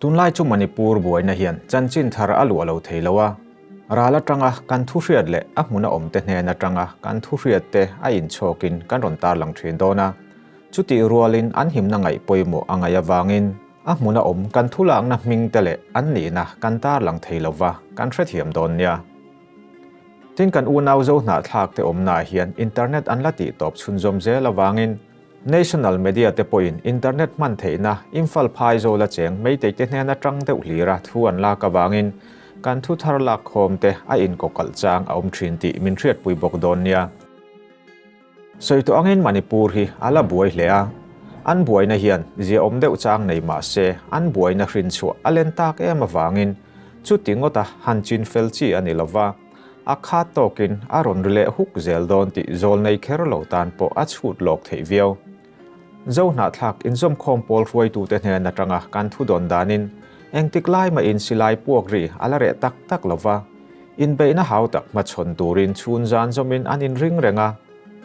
Tunlai chu Manipur buaina hian chanchin thar a luah lo thei lo a, ral atanga kan thuhriat leh a hmuna awmte hnen atanga kan thuhriatte a inchhawkin kan rawn tarlang thin dawn a. Chutih rualin an himna ngaih pawimawh a ngaih avangin a hmuna awm kan thu lakna hmingte leh an nihna kan tarlang thei lova kan hrethiam dawn nia. Tin, kan unau zo hnah thlakte awmnaah hian internet an la tihtawp chhunzawm zel avangin, National media te pawhin internet hman theihna Imphal phai zawl a cheng Meitei te hnena tang deuh hlir a thu an lak avangin kan thu thar lak khawm te a inkaw kalh chang a awm thin tih min hriatpui bawk dawn nia. Sawi tawh angin Manipur hi a la buai hle a, an buaina hian ziaawm deuh chang nei mah se an buaina hrinchhuah a len tak em avangin chuti ngawta han chin fel chi a ni lo va, A khat tawkin a rawn ri leh huk zel dawn tih zawl nei kher lo tan pawh a chhut lawk theih viau. Zo hnahthlak inzawmkhawm pawl hruaitute hnen atanga kan thu dawn danin engtik lai mahin silai puak ri a la reh tak tak lo va, inbeihna hau tak hmachhawn turin chhun zan zawmin an inring reng a.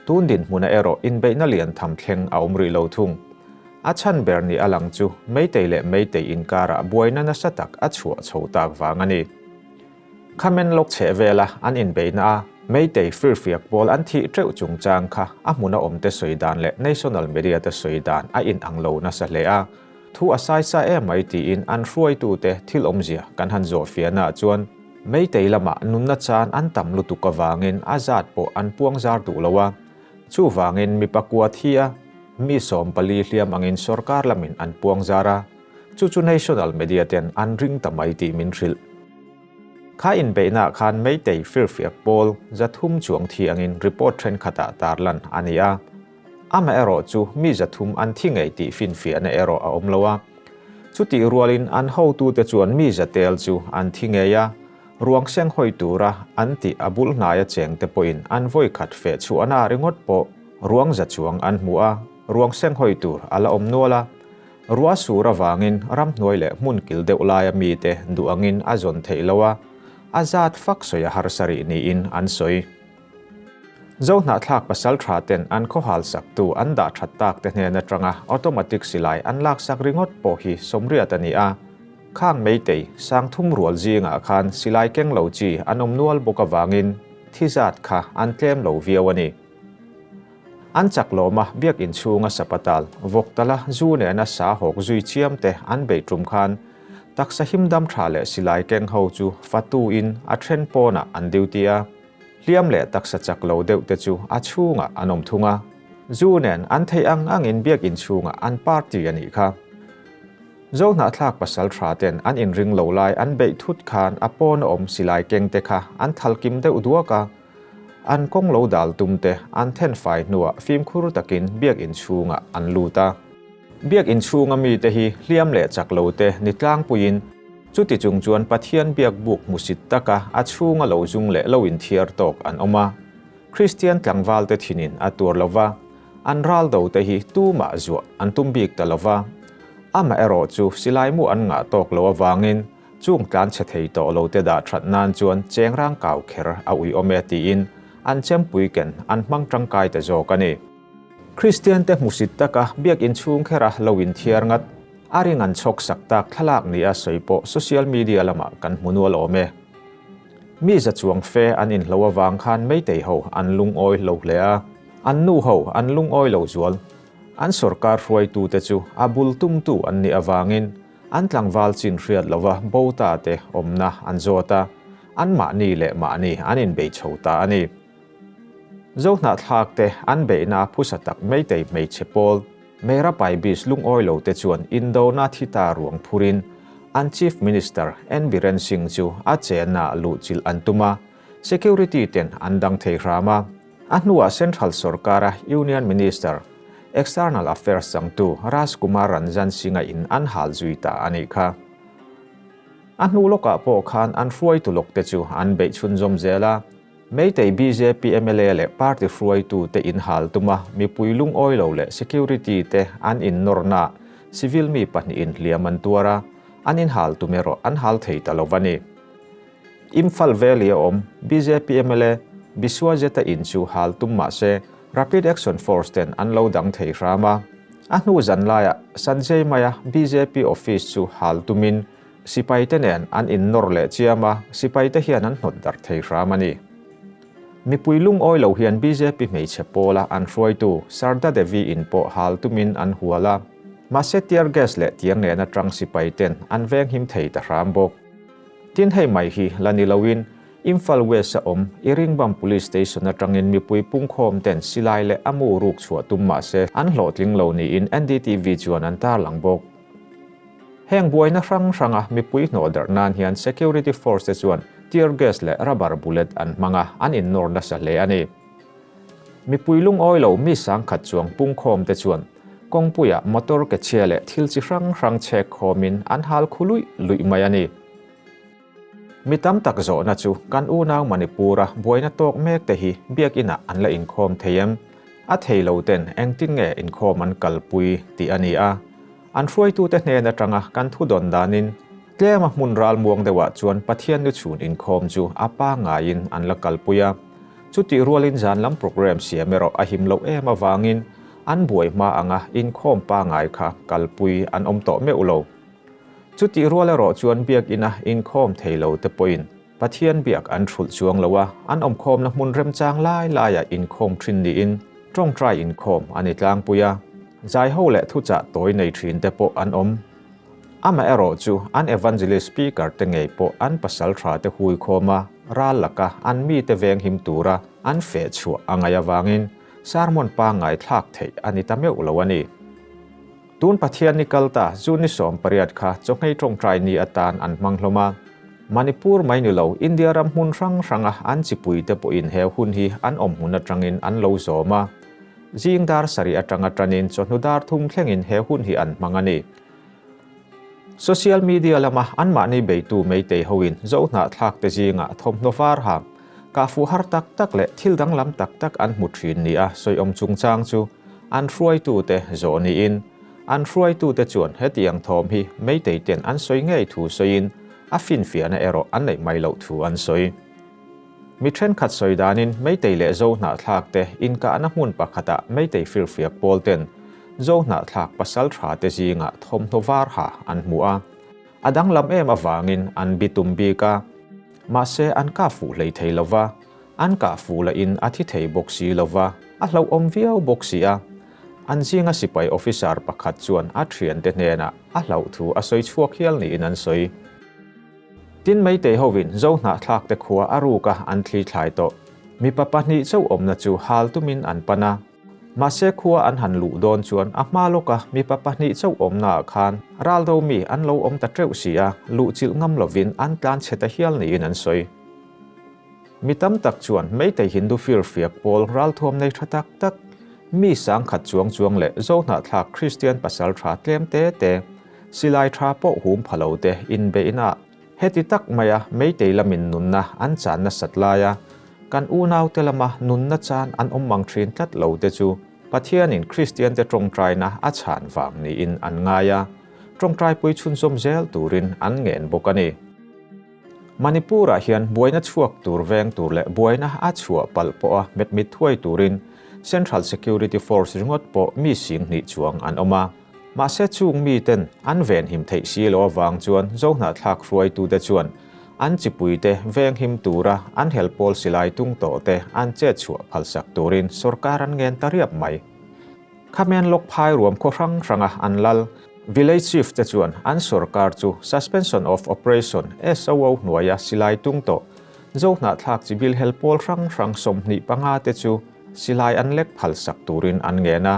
Tun dinhmuna erawh inbeihna lian tham thleng a awm rih lo thung. A chhan ber nih a lang chu meitei leh meitei inkarah buaina nasa tak a chhuah chho tak vang a ni. Khamen lawk chheh vela an inbeihna a Meitei firfiak pawl an thih teuh chungchang kha a hmun a awmte sawi dan leh national media te sawi dan a inang lo nasa hle a, thu a sai sa em mai tiin an hruaitute thil awmzia kan han zawh fianah chuan Meitei lamah nunna chan an tam lutuk avangin a zat pawh an puang zar duh lo a, chuvangin mipa kua thi a mi sawm pali hliam angin sorkar lamin an puang zar a. Chu chu national media ten an ring ta mai tih min hrilh. Kha inbeihna ah khan Meitei firfiak pawl zathum chuang thi angin report thenkhat ah tarlan a ni a. Ama erawh chu mi zathum an thi ngei tih finfiah na erawh a awm lo a. Chutih rual in an hotu te chuan mi zatel chu an thi ngei a, ruang seng hawi tura an tih a bul hnaia cheng te pawhin an vawikhat feh chhuahna ringawt pawh ruang za chuang an hmu a, ruang seng hawi tur a la awm nual a, Rua sur avangin ramhnuai leh hmun kil deuh laia mite duh angin a zawn theih lo a, a zat fak sawi a harsa rih niin an sawi. Zo hnahthlak pasal tha ten an khawhal saktu an dah that tak te hnen atanga automatic silai an laksak ringawt pawh hi sawmriat a ni a, khang meitei, sangthum rual zingah khan silai keng lo chi an awm nual bawk avangin thi zat kha an tlem lo viau a ni. An chak lawma biakin chhunga sapa tal, vawk tala zu nena sa hawk zui chiam te an beih ṭum khan taksa him dam ṭha leh silai keng ho chu fatu in a ṭhen pawnah an duty a hliam leh taksa chak lo deuh te chu a chhungah an awm thung a. Zu nen an theih ang ang in biakin chhungah an party a nih kha. Zo hnahthlak pasal ṭha ten an inring lo lai an beih thut khan a pawn a awm silai keng te kha an thalkim deuh duak a, An kawng lo dal tum te an then fai hnuah fimkhur takin biakinn chhungah an lut a. Biakinn chhunga mite hi hliam leh chak lo te ni tlangpuiin chuti chung chuan Pathian biak buk hmusit taka a chhunga lo zung leh lo inthiar tawk an awm a. Kristian tlangvalte thinin a tur lo va, an ral do te hi tumah zuah an tum bik ta lo va. Amaherawhchu silai mu an ngah tawk lo avangin Chung tlan chhe thei tawh lo te dah that nan chuan chengrang kau kher a uiawm e tiin an chempui ken an hmang tangkai ta zawk a ni. Kristian te hmusit taka biakinn chhung khera lo inthiar ngat, a ring an chhawk sak tak thlalak ni a sawi pawh social media lamah kan hmu nual awm e. Mi za chuang fe an inhlo avang khan meitei ho an lungawi lo hle a, an nu ho an lungawi lo zual. An sorkar hruaitute chu a bul tumtu an nih avangin An tlangval chin hriat lova bota te awmna an zawt a, an mahni leh mahni an inbei chho ta a ni. Zo hnahthlak te an beihna phusa tak Meitei hmeichhe pawl, Mera Paibis lungawi lo te chuan Indona thi ta ruang phur in an Chief Minister N Biren Singh chu a chenna luhchilh an tum a, Security-ten an dang thei hram a. A hnuah Central Sorkara Union Minister, External Affairs changtu Raj Kumar Ranjan Singha in an hal zui ta a nih kha. A hnu lawkah pawh khan an hruaitu lawkte chu an beih chhunzawm zel a, Meitei bjp mla leh party hruaitute in hal tuma mipui lungawilo leh security te an innawrnaah civil mi pahnihin hliam an tuar a, an inhal tum erawh an hal thei ta lo a ni. Imphal vel i a awm. Bjp mla Biswajeta in chu hal tum mah se, Rapid Action Force ten an lo dang thei hram a. A hnu zan laiah Sanjay Maya bjp office chu hal tumin sipai te nen an in nawr leh chiam a, sipai te hian an hnawt darh thei hram a ni. Mipui lungawi lo hian bjp hmeichhe pawla an hruaitu Sarda Devi in pawh hal tumin an hual a. Mahse tear gas leh tiang nena tang sipai ten an venghim thei ta hram bawk. Tin, hei mai hi la ni loin Imphal West a awm Iringbam Police Station atangin mipui pungkhawm ten silai leh amu ruk chhuah tum mahse an hlawhtling lo niin NDTV chuan an tarlang bawk. Heng buaina hrang hrang a mipui hnawh darh nan hian security force te chuan tear gas leh rubber bullet an hmang a, an innawn nasa hle a ni. Mipui lungawi lo mi sangkhat chuang pungkhawm te chuan kawngpuia motor ke chhia leh thil chi hrang hrang chhek khawm in an hal khu luih luih mai a ni. Mi tam tak zawhna chu kan unau Manipura buaina tawk mek te hi Biakinn ah an la inkhawm thei em? A thei lo ten engtin nge inkhawm an kalpui tih a ni a. An hruaitute hnen atanga kan thu dawn danin tlema hmun ralmuang deuhah chuan Pathian lu chhun inkhawm chu a pangaiin an la kalpui a. Chutih rualin zan lam programme siam erawh a him loh em avangin an buai hma anga inkhawm pangai kha kalpui an awm tawh meuh lo. Chutih rual erawh chuan Biakina inkhawm thei lote pawhin Pathian biak an hrulh chuang lo a, an awmkhawmna hmun remchang lai laiah inkhawm ṭhin niin ṭawngṭai inkhawm an i tlangpui a. Zaiho leh thuchah tawi nei ṭhinte pawh an awm. Amaherawh chu, an evangelist speaker-te ngei pawh an pasal ṭhate hui khawm a, ral laka an mite venghim tura an feh chhuah a ngaih avangin sermon pangngai thlak theih a ni ta meuh lo a ni. Tun Pathiani kal ta June ni sawm pariat kha Chawngei Tawngtai ni atan an hmang hlawm a. Manipur mai ni lo, India ram hmun hrang hranga an chipui te pawhin he hun hi an awm hmun atangin an lo zawm a. Zing dar sarih atanga tanin chawhnu dar thum thlengin he hun hi an hmang a ni. Social media lama anmahni beitu Meitei hoin Zohnah thlakte zingah thawmhnaw var ha, Kah fuhar tak tak leh thil danglam tak tak an hmu thin nia sawiawm chungchang chu an hruaitute zawh niin an hruaitute chuan hetiang thawm hi meitei ten an sawi ngei thu sawiin a finfiahna erawh an neih hmai loh thu an sawi. Mi thenkhat sawi danin meitei leh zohnahthlakte inkahna hmun pakhatah meitei firfiak pawl ten zohnahthlak pasal tha te zinga thawmhnaw var ha an hmu a, a danglam em avangin an bi tum bik a. Mahse an kah fuh hlei thei lo va, an kah fuh lah in a thi thei bawk si lo va, a hlauhawm viau bawk si a. An zinga sipai officer pakhat chuan a thiante hnenah a hlauh thu a sawi chhuak hial niin an sawi. Tin mai tei ho in Zo Hnahthlakte khua a ruka an thlithlai tawh. Mipa pahnih chauh awmna chu hal tumin an pan a. Mahse khua an han luh dawn chuan a hma lawka mipa pahnih chauh awmnaah khan ral ro mi an lo awm ta teuh si a, luhchilh ngam lovin an tlan chhe ta hial niin an sawi. Mi tam tak chuan meitei Hindu firfiak pawl ralthuam nei tha tak tak, mi sangkhat chuang chuang leh zohnahthlak Kristian pasal tha tlem te te, silai tha pawh hum phalo te inbe inah, Heti tak maia meitei lamin nunna an chan nasat laia kan unaute lama nunna chan an awm mang thin tlat lo te chu Pathianin Kristiante tawngtaina a chhan vang niin an ngai a, tawngtaipui chhunzawm zel turin an ngen bawk a ni. Manipur-ah hian buaina chhuak tur veng tur leh buaina a chhuah palh pawha hmet mit thuai turin Central Security Force ringawt pawh mi sing hnih chuang an awm a, Mahse chung miten an venhim theih si lo avang chuan zohnahthlak hruaitute chuan an chipuite venghim tura an helpawl silai tung tawhte an chetchhuah phalsak turin sorkar an ngen ta riap mai. Khamen lawk phai ruam khaw hrang hranga an lal Village Chief te chuan an sorkar chu suspension of operation SOO hnuaia silai tung tawh zohnahthlak chibil helpawl hrang hrang sawmhnih panga te chu silai an lek phalsak turin an ngen a.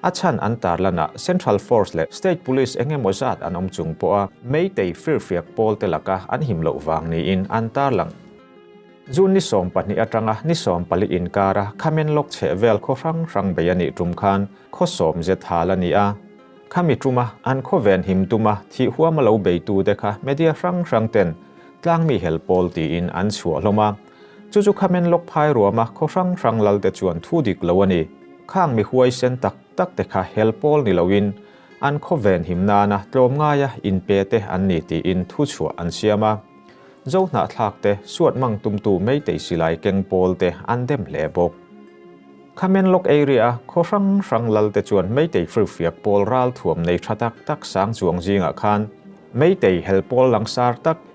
A chhan an tar lan ah Central Force leh State Police eng emaw zat an awm chung pawh a Meitei firfiak pawl te laka an him loh vang niin an tar lang. June ni sawm pahnih atanga ni sawm pali inkar a Khamen lawk chheh vel khaw hrang hrang bei a nih tum khan khaw sawm zet hal a ni a. Khami tum a an khaw ven him tum a thih huam a lo bei tu te kha media hrang hrang ten tlangmi hel pawl tiin an chhuah hlawm a. Chu chu kha menlawk phai ruama khaw hrang hrang lalte chuan thu dik lo a ni. Khang mi huaisen tak tak te kha hel pawl ni loin an khawven him nana tlawm ngaia in pe te an ni tiin thu chhuah an siam a. Zo hnahthlak te, suat mang tumtu meitei silai keng pawl te an dem hle bawk. Kha menlawk area khaw hrang hrang lalte chuan meitei hrilhfiak pawl ral thuam nei tha tak tak sang chuang zingah khan meitei hel pawl langsar tak,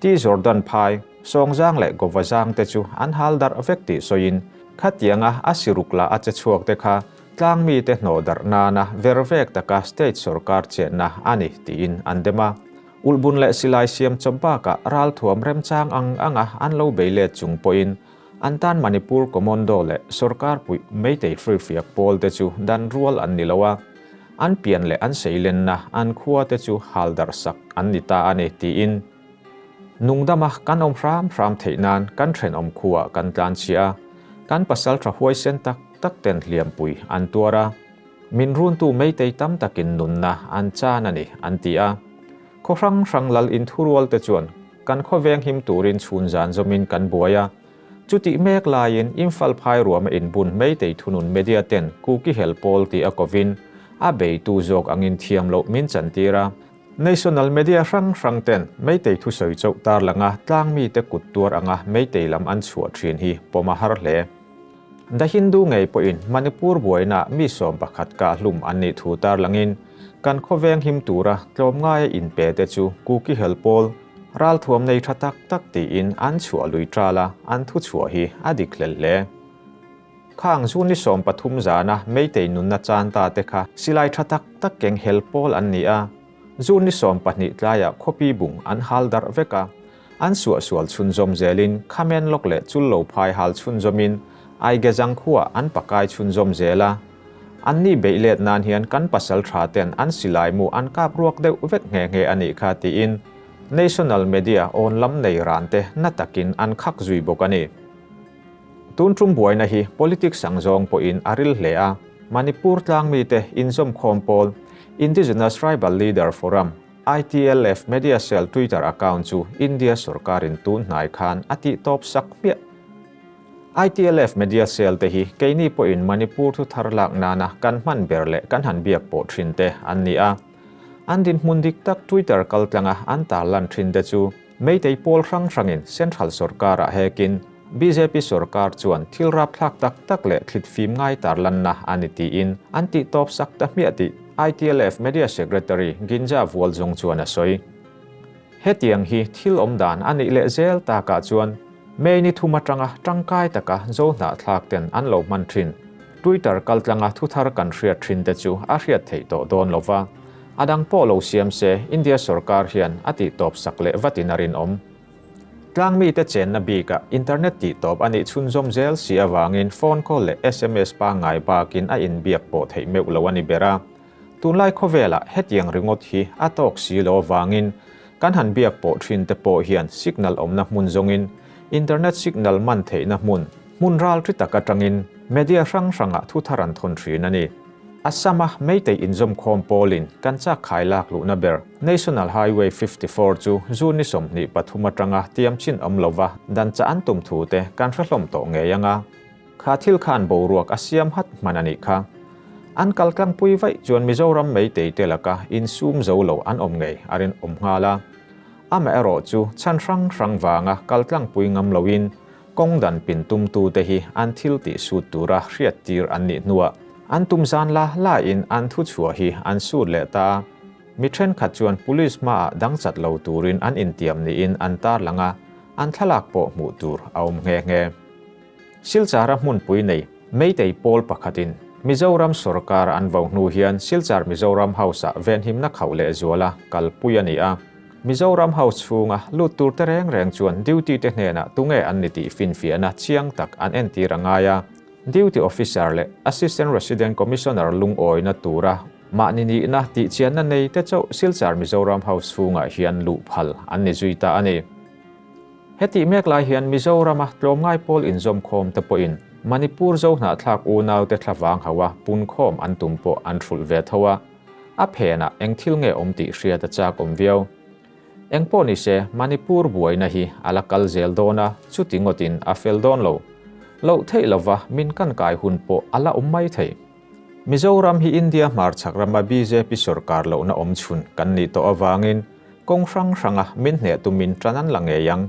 Ti Jordan phai, Sawngzang leh Gawvazang te chu an hal darh vek tih sawiin, khatianga a siruk lah a che chhuak te kha tlang mite hnawh darh nana ver vek taka state sorkar chenna a ni tiin an dem a. Ulhbun leh silai siam chawp bakah ralthuam remchang ang anga an lo bei let chung pawhin an tan Manipur Commando leh Sorkar puih Meitei Hrifiak pawl te chu dan rual an ni lo a. An pian leh an seilenna an khuate chu hal darhsak an ni ta a ni, tiin Nungdama kan awm hram hram theih nan kan thenawm khuah kan tlanchhia a, kan pasal tha huaisen tak tak ten hliampui an tuar a, min runtu meitei tam takin nunna an chan a ni, an ti a. Khaw hrang hrang lal inthurualte chuan kan khawveng him turin chhun zan zawmin kan buai a, Chutih mek laiin infal phai ruama inbun hmeitei thunun media ten kuki hel pawl tih a kovin a beitu zawk ang in thiam loh min chan tir a. National media hrang hrang ten meitei thu sawi chauh tar langa tlangmi te kut tuar anga meitei lam an chhuah thin hi pawm a har hle. The Hindu ngei pawhin Manipur buainah mi sawm pakhat kahlum an nih thu tarlangin kan khawveng him tura tlawm ngaia inpe te chu Kuki hel pawl ralthuam nei tha tak tak tiin an chhuah lui tal a, an thuchhuah hi a dik hlel hle. Khang June ni sawm pathum zana Meitei nunna chan ta te kha silai tha tak tak keng hel pawl an ni a, June ni sawm pahnih tlaiah khuapi bung an hal darh vek a, an suah sual chhunzawm zelin Khamen lawk leh Chul Lo Phai hal chhunzawmin Aigezang khua an pakai chhunzawm zel a. Anni beih let nan hian kan pasal tha ten an silai mu an kap ruak deuh vek nghe nghe a nih kha tiin National Media awn lam nei ran te hna takin an khak zui bawk a ni. Tun ṭum buaina hi politics ang zawng pawhin a ril hle a, Manipur tlang mite, inzawmkhawm pawl, Indigenous Tribal Leader Forum, ITLF, media cell Twitter account chu India sorkarin tunhnai khan a tih tawp sak hmiah. ITLF media cell te hi keini pawhin Manipur thu thar lak nana kan hman ber leh kan han biak pawh ṭhinte an ni a. An dinhmun dik tak Twitter kaltlanga an tarlan ṭhinte chu, Meitei pawl hrang hrangin Central sorkara hekin bjp sorkar chuan thil rapthlak tak tak leh thlit fim ngai tar lanna a ni tiin an tihtawp sak ta hmiah tih ITLF Media Secretary Ginja Vualzung chuan a sawi. Hetiang hi thil awm dan a nih leh zel takah chuan May ni thum atanga tangkai taka zo hnahthlakten an lo hman thin. Twitter kaltlanga thuthar kan hriat thinte chu a hriat theih tawh dawn lo va, A dang pawh lo siam se, India sorkar hian a tihtawp sak leh vatin a rinawm. Tlang mite chenna bikah internet tihtawp a nih chhunzawm zel si avangin phone call leh sms pangngai bakin a inbiak pawh theih meuh lo a ni ber a. Tunlai khawvelah hetiang ringawt hi a tawk si lo avangin kan han biak pawh thinte pawh hian signal awmna hmun zawngin internet signal man theihna hmun hmunral ṭi tak aṭangin media hrang hrangah thuthar an thawn ṭhin a ni. A sama meitei inzawm khawm pawlin kan chakkhai lak luhna ber National Highway fifty four chu June ni sawmhnih pathum atanga tiam chin awm lova dan chah an tum thu te kan hre hlawm tawh ngei anga kha thil khan boruak a siam hat hman a nih kha. An kal tlangpui vaih chuan Mizoram meitei te laka insum zo lo an awm ngei a rinawm nghal a. Amaherawhchu chhan hrang hrang vanga kal tlangpui ngam loin Kawng dan pin tumtu te hi an thil tih sut tura hriat tir an nih hnuah an tum zan la la in an thu chhuah hi an sut leh ta. Mi thenkhat chuan Police hmaah dangchat lo turin an intiam niin an tarlang a, an thlalak pawh hmuh tur a awm nghe nghe. Silchara hmunpui nei Meitei pawl pakhatin Mizoram sorkar an vo hnu hian Silchar Mizoram House-ah venhimna khauh lehzuala kalpui a ni a. Mizoram ho chhunga lut turte reng reng chuan duty te hnenah tunge an ni tih finfiahna chiang tak an entir a ngai a, Duty Officer leh Assistant Resident Commissioner lungawina tura mahni nihna tihchianna nei te chauh Silchar Mizoram ho chhungah hian luh phal an ni zui ta a ni. Hetih mek lai hian Mizorama tlawm ngai pawl inzawmkhawm te pawhin Manipur Zohnahthlak unaute thlavang hoa punkhawm an tum pawh an hrulh ve tho a, A phenah eng thil nge awm tih hriat a chak awm viau. Engpawh ni se, Manipur buaina hi a la kal zel dawn a, chuti ngawtin a fel dawn lo. Loh theih lova min kan kai hun pawh a la awm mai thei. Mizoram hi India hmarchhak rama bjp sawrkar lohna awmchhun kan nih tawh avangin kawng hrang hranga min hneh tumin tan an la ngei ang.